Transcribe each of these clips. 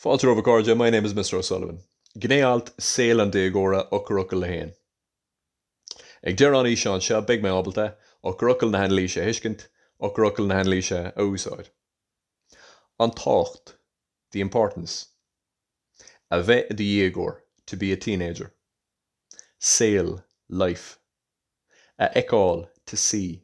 Fáilte romhaibh a chairde, my name is Mr O'Sullivan. Gné-alt:, Saol an déagóra, Eochairfhocail a haon. Ag deireadh an fhíseáin seo beidh mé ábalta, Eochairfhocail na hanailíse a thuiscint, Eochairfhocail na hanailíse a úsáid. An tábhacht, the importance. A bheith i do dhéagóir, to be a teenager. Saol, life. A fheiceáil, to see.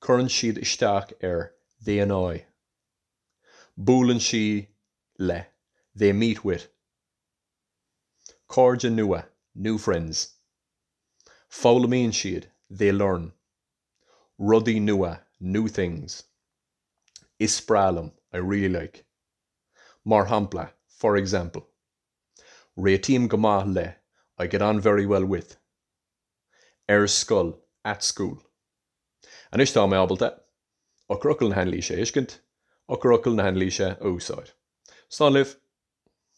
Cuireann siad isteach ar they annoy. Buaileann siad le they meet with. Cairde nua, new friends. Foghlaimíonn siad they learn. Rudaí nua, new things. Is breá liom I really like. Mar shampla, for example. Réitím go maith le I get on very well with. ar scoil at school. Anois tá mé ábalta eochairfhocail na hAnailíse a thuiscint, eochairfhocail na hAnailíse a úsáid. Slán libh.